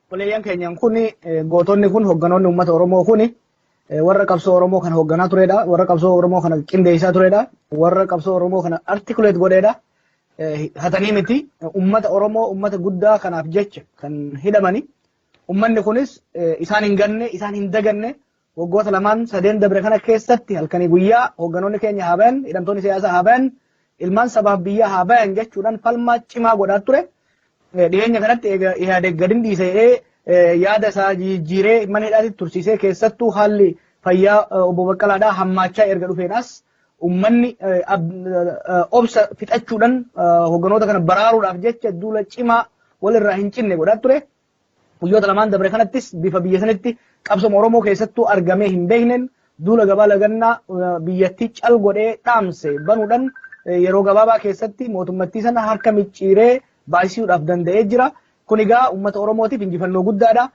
Obboleeyyan keenyan kun gootonni kun hogganoonni uummata Oromoo kun warra qabsoo Oromoo kana hogganaa turedha. Warra qabsoo Oromoo kana qindeessaa turedha. Warra qabsoo Oromoo kana articulate godheedha. Hatanii miti uummata Oromoo uummata guddaa kanaaf jecha kan hidhamani. Uummanni kunis isaan hin ganne isaan hin daganne Waggoota lamaan sadeen dabre kana keessatti halkanii guyyaa hoogganoonni keenya haa bayan, hidhamtoonni siyaasaa haa bayan, ilmaan sabaaf biyyaa haa bayan jechuudhaan falmaa cimaa godhaa ture. Dhiyeenya kanatti egaa Ihaadeg gadin dhiise jedhee yaada isaa jijjiiree mana hidhaatti tursiisee keessattuu haalli fayyaa obbo Baqqalaadhaa hammaachaa erga dhufeenas ummanni obsa fixachuudhaan hoogganoota kana baraaruudhaaf jecha duula cimaa walirraa hin cinne godhaa ture. Guyyoota lamaan dabre kanattis bifa biyya sanitti qabsoma Oromoo keessattuu argamee hin beekneen duula gabaa lagannaa biyyattii cal godhee dhaamse banuudhan yeroo gabaabaa keessatti mootummattii sana harka micciiree baay'isuudhaaf danda'ee jira. Kun egaa uummata Oromootiif injifannoo guddaadha.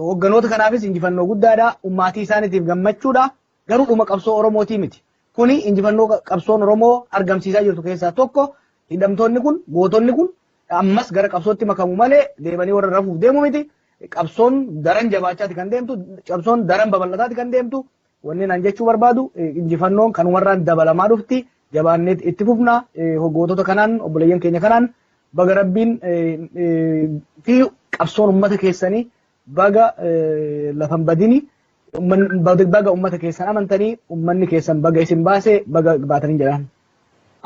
Hogganoota kanaafis injifannoo guddaadha. Ummaatii isaaniitiif gammachuudha. Garuu dhuma qabsoo Oromootii miti. Kuni injifannoo qabsoon Oromoo argamsiisaa jirtu keessaa tokko hidhamtoonni kun gootonni kun ammas gara qabsootti makamu malee deebanii warra rafuuf deemu miti. Qabsoon daran jabaachaati kan deemtu qabsoon daran babal'ataati kan deemtu wanni naan jechuu barbaadu injifannoon kan warraan dabalamaa dhufti jabaanneet itti fufna hoggootota kanaan obboleeyyan keenya kanaan baga rabbiin fi qabsoon ummata keessanii Baga lafa hin badini. Baga uummata keessan amantanii uummanni keessan baga isin baase baga baatanii jedhaan.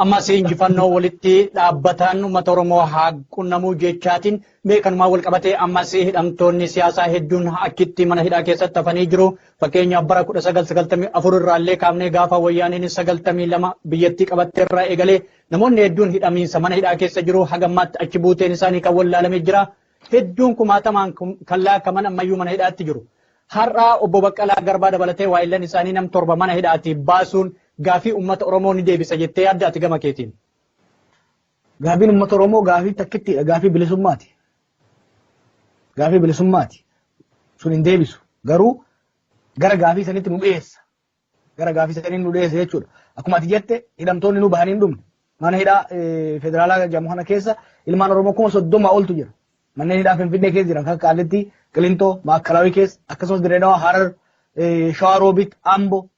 Ammas injifannoo walitti dhaabbataan uummata Oromoo haa qunnamuu jechaatiin mee kanumaan wal qabatee ammas hidhamtoonni siyaasaa hedduun achitti mana hidhaa keessatti hafanii jiru. Fakkeenyaaf bara 1994 irraallee kaafnee gaafa wayyaaneen 92 biyyattii qabattee irraa eegalee namoonni hedduun hidhamiinsa mana hidhaa keessa jiru hagammaatti achi buuteen isaanii kan wallaalamee jira. hedduun kumaatamaan kan laakkaman ammayyuu mana hidhaatti jiru. Har'a obbo Baqqalaa Garbaa dabalatee waayillan isaanii nam torba mana hidhaati baasuun gaafii uummata Oromoo ni deebisa jettee yaadda ati gama keetiin. Gaafiin uummata Oromoo gaafii takkittiidha. Gaafii bilisummaati. Gaafii bilisummaati. Sun hin deebisu. Garuu gara gaafii sanitti nu dhiyeessa. gara gaafii sanii nu dhiyeesse jechuudha. Akkuma ati jette hidhamtoonni nu bahanii hin dhumne. Mana hidhaa federaalaa jedhamu kana keessa ilmaan Oromoo kuma soddoma oltu jira. Manneen hidhaa Finfinnee keessa jiran kan Qaallitti, Qilintoo, Maakalaawii keessa akkasumas Dirreedawaa, Harar, Shawaa Roobit, Ambo,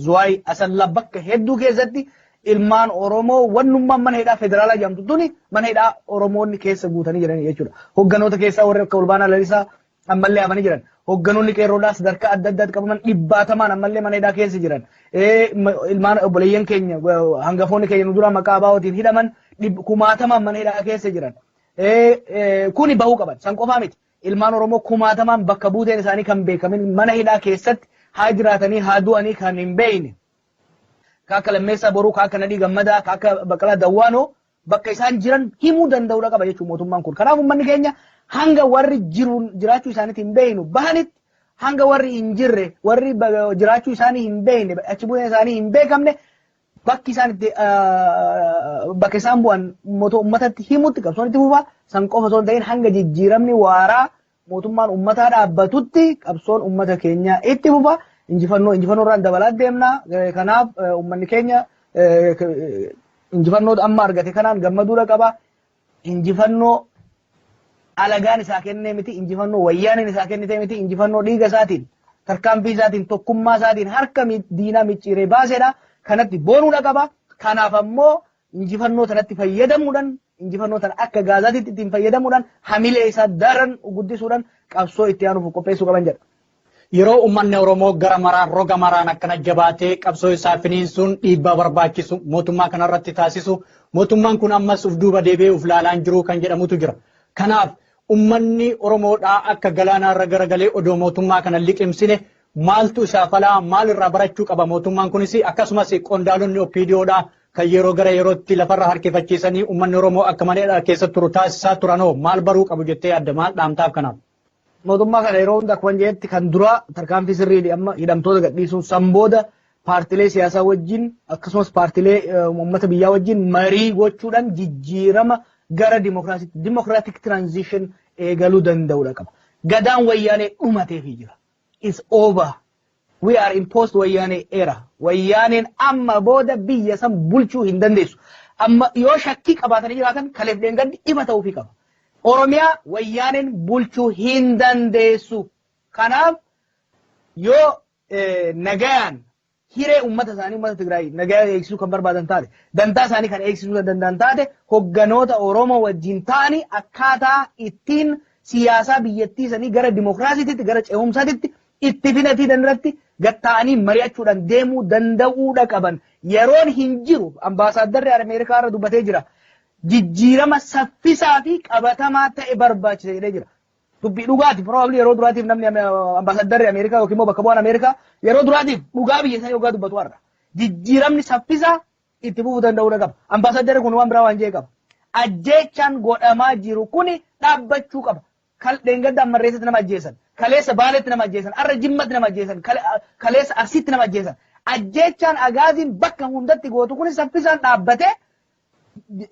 Zuwaay, Asallaa bakka hedduu keessatti ilmaan Oromoo wannummaan mana hidhaa federaalaa jedhamtu tuni mana hidhaa Oromoonni keessa guutanii jiran jechuudha. Hogganoota keessaa warri akka Olbaanaa Lalisaa, ammallee hafanii jiran. Hogganoonni qeerroodhaa sadarkaa adda addaatti qabaman dhibbaatamaan ammallee mana hidhaa keessa jiran. Ilmaan obboleeyyan keenya hangafoonni keenya nu dura maqaa abaa'ootiin hidhaman kumaatamaan mana hidhaa keessa jiran. Kuni bahuu qaban. San qofaa miti. Ilmaan Oromoo kumaatamaan bakka buuteen isaanii kan beekamin mana hidhaa keessatti haa jiraatanii haa du'anii kan hin beekne. Ka akka Lammeessaa Boruu, ka akka Nadhii Gammadaa, ka akka Baqqalaa Dawwaanoo bakka isaan jiran himuu danda'uudha qaba jechuun mootummaan kun. Kanaaf uummanni keenya hanga warri jiruun jiraachuu isaaniitti hin beeknu bahanitti hanga warri hin jirre warri jiraachuu isaanii hin beekne achi bu'een isaanii hin beekamne bakki isaan itti bakka isaan bu'an uummatatti himutti qabsoon itti fufaa san qofa osoo hin ta'in hanga jijjiiramni waaraa mootummaan ummataa dhaabbatutti qabsoon ummata keenyaa itti fufa injifannoo injifannoo irraan dabalaa deemna kanaaf ummanni keenya injifannoo amma argate kanaan gammaduudha qaba injifannoo alagaan isaa kennee miti injifannoo wayyaaniin isaa kennitee miti injifannoo dhiiga isaatiin tarkaanfii isaatiin tokkummaa isaatiin harka diinaa micciiree baaseedha kanatti boonuudha qaba kanaaf ammoo injifannoo tanatti fayyadamuudhaan injifannoo tana akka gaazaatiitti ittiin fayyadamuudhaan hamilee isaa daran guddisuudhaan qabsoo itti aanuuf qopheessuu qaban jedha. Yeroo uummanni Oromoo gara maraan roga maraan akkana jabaatee qabsoo isaa finiinsuun dhiibbaa barbaachisu mootummaa kanarratti taasisu mootummaan kun ammas uf duuba deebi'ee uf laalaan jiru kan jedhamutu jira. Kanaaf uummanni Oromoodhaa akka galaanaarra garagalee odoo mootummaa kana liqimsine maaltu isaa falaa maalirraa barachuu qaba mootummaan kunis akkasumas qondaalonni OPDOdhaa kan yeroo gara yerootti lafarra harkifachiisanii uummanni Oromoo akka malee dharkeessa turu taasisaa turanoo maal baruu qabu jettee yaadda maal dhaamtaaf kanaaf? Mootummaa kana yeroo hunda akkuma jedhetti kan duraa tarkaanfii sirriidha amma hidhamtoota gadhiisuun san booda paartilee siyaasaa wajjin akkasumas paartilee uummata biyyaa wajjin marii gochuudhaan jijjiirama gara dimokiraasiitti dimokiraatik tiraanzishin eegaluu danda'uudha qaba. Gadaan wayyaanee dhumateefii jira. Is over. We are in post wayyaanee era. Wayyaaneen amma booda biyya san bulchuu hin dandeessu. Amma yoo shakkii qabaatanii jiraatan kaleef dheengaddi ifa ta'uufii qaba. Oromiyaa wayyaaneen bulchuu hin dandeessu. Kanaaf yoo eh, nagayaan hiree uummata isaanii uummata Tigraay nagaya eegsisuu kan barbaadan taate dantaa isaanii kan eegsisuu kan danda'an taate hogganoota Oromoo wajjin ta'anii akkaataa ittiin siyaasaa biyyattii isaanii gara dimokiraasiitti gara ce'umsaatitti Itti filatiin irratti gad taa'anii mari'achuudhaan deemuu danda'uudha qaban. Yeroon hin jiru, Ambaasaaddarri Ameerikaa har'a dubbatee jira. Jijjiirama saffisaa fi qabatamaa ta'e barbaachisa jedhee jira. Dubbii dhugaati, probably yeroo duraatiif namni Ambaasaaddarri Ameerikaa yookiin immoo bakka bu'aan Ameerikaa yeroo duraatiif dhugaa biyya isaanii hoggaa dubbatu har'a. Jijjiiramni saffisaa itti fufuu danda'uudha qaba. Ambaasaaddarri kun waan biraa waan jedhe qaba. Ajjeechaan godhamaa jiru kuni dhaabbachuu qaba. Kal dheengadda Ammarreessatti nama ajjeesan. Kaleessa Baaleetti nama ajjeesan. Har'a Jimmatti nama ajjeesan. Kale- a- Kaleessa Arsiitti nama ajjeesan. Ajjeechaan agaaziin bakka hundatti gootu kun saffisaan dhaabbatee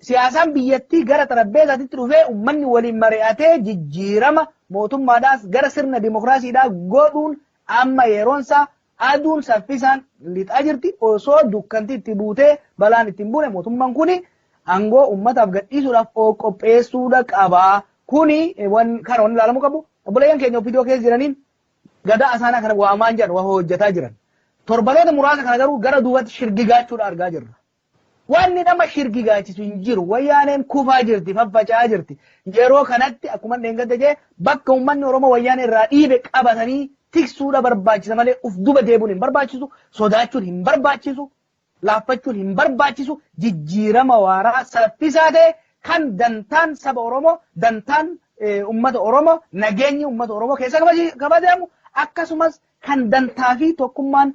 siyaasaan biyyattii gara xarabbeesaatitti dhufee ummanni waliin mari'atee jijjiirama mootummaadhaas gara sirna dimokiraasiidhaa godhuun amma yeroonsaa Aduun saffisaan lixaa jirti, osoo dukkanti itti buutee balaan itti hin buune mootumman kuni angoo ummataaf gadhiisuudhaaf of qopheessuudha qaba. Kuni wan kana wan ilaalamu qabu. Obboleeyyan keenya opdo keessa jiraniin gadaa asaanaa kana waamaan jiran wa hojjataa jiran. Torbanoota muraasa kana garuu gara duubatti shirgigaachuudha argaa jirra. Wanni nama shirgigaachisu hin jiru. Wayyaaneen kufaa jirti, faffaca'aa jirti. Yeroo kanatti akkuman dheengadda jedhe bakka ummanni Oromoo Wayyaanee irraa dhiibe qabatanii tiksuudha barbaachisa malee uf duba deebuun hin barbaachisu, sodaachuun hin barbaachisu, laaffachuun hin barbaachisu, jijjiirama waaraa saffisaa ta'e kan dantaan saba Oromoo, dantaan ummata Oromoo, nageenyi ummata Oromoo keessaa kabajamu akkasumas kan dantaa fi tokkummaan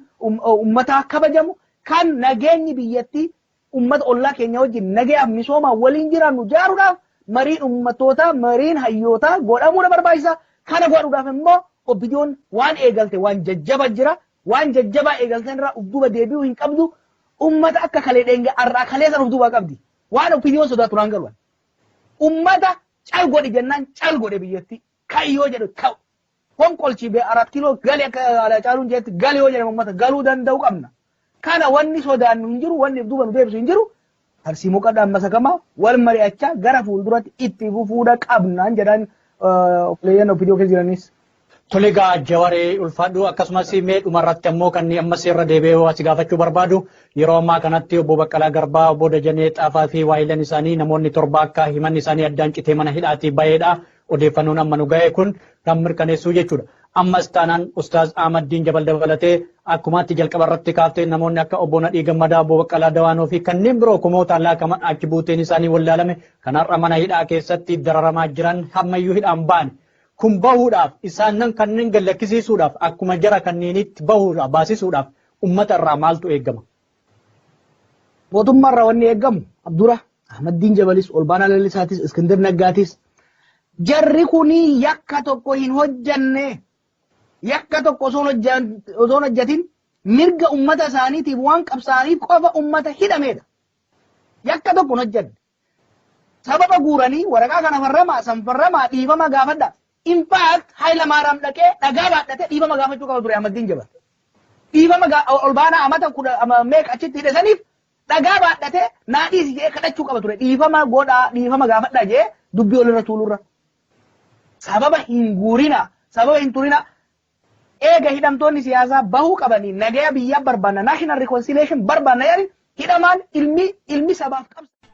ummataa kabajamu, kan nageenyi biyyattii ummata ollaa keenya wajjin nagayaaf misoomaan waliin jiraannu jaaruudhaaf mariin ummattootaa, mariin hayyootaa godhamuu na barbaachisa. Kana godhuudhaaf immoo OPDOn waan eegalte waan jajjaba jira. Waan jajjabaa eegalteen irraa uf duuba deebi'uu hin qabdu. Ummata akka kalee dheenga arraa kalee san uf duubaa qabdi. Waan OPDOn sodaatu naan galu ani. Ummata cal godhi jennaan cal godhe biyyattii. Ka'i yoo jedhu ka'u. fonqolchi be arat kilo gali akka Haacaaluun jedhetti gali yoo jedhame ummata galuu danda'u qabna. Kana wanni sodaannu hin jiru, wanni duuba nu deebisu hin jiru. Tarsiimoo qabna amma sakamaa wal mari'achaa gara fuulduratti itti fufuudha qabnaan jedhaan obboleeyyan OPDO keessa jiranis. Tole egaa Jawaree ulfaadhu akkasumas mee dhumarratti ammoo kan amma seerra deebi'ee asi gaafachuu barbaadu yeroo ammaa kanatti obbo Baqqalaa Garbaa obbo Dajanee Xaafaa fi waayilan isaanii namoonni torba akka himanni isaanii addaan citee mana hidhaatii baheedha. Odeeffannoon amma nu gahe kun kan mirkaneessuu jechuudha. Ammas taanaan Ustaaz Ahmad Diin Jabal dabalatee akkuma ati jalqaba irratti kaafte namoonni akka Obbo Nadhii Gammadaa, Obbo Baqqalaa Dawaanoo fi kanneen biroo kumootaan laakaman achi buuteen isaanii wallaalame kan har'a mana hidhaa keessatti dararamaa jiran hammayyuu hidhaan ba'an. Kun bahuudhaaf isaannan kanneen gallakkisiisuudhaaf akkuma jara kanneeniitti bahuudhaaf baasisuudhaaf ummata irraa maaltu eegama? Mootummaa irraa wanni eegamu Abdura Ahmaddiin Jabalis, Olbaanaa Lalisaatis, Iskindir Naggaatis jarri kunii yakka tokko hin hojjanne yakka tokko osoo hin hojjan- osoo hin hojjatin mirga ummata isaaniitiif waan qabsaa'aniif qofa ummata hidhameedha. Yakka tokko hin hojjanne. Sababa guuranii waraqaa kana farramaa, san farramaa, dhiifama gaafadhaa. In fact Hayilamaaraam dhaqee dhagaa baadhatee dhiifama gaafachuu qaba ture Ahmaddiin Jabar. Dhiifama olbaanaa amata kudha meeqa achitti hidhe saniif dhagaa baadhatee naa dhiisi jedhee kadhachuu qaba ture. Dhiifama godhaa, dhiifama gaafadhaa jedhee dubbii olirra tuulurra. Sababa hin guurinaa, sababa hin turinaa. Eega hidhamtoonni siyaasaa bahuu qabanii nagaya biyyaa barbaanna, national reconciliation, barbaanna jedhanii hidhamaan ilmi ilmi sabaaf qabsaa'e,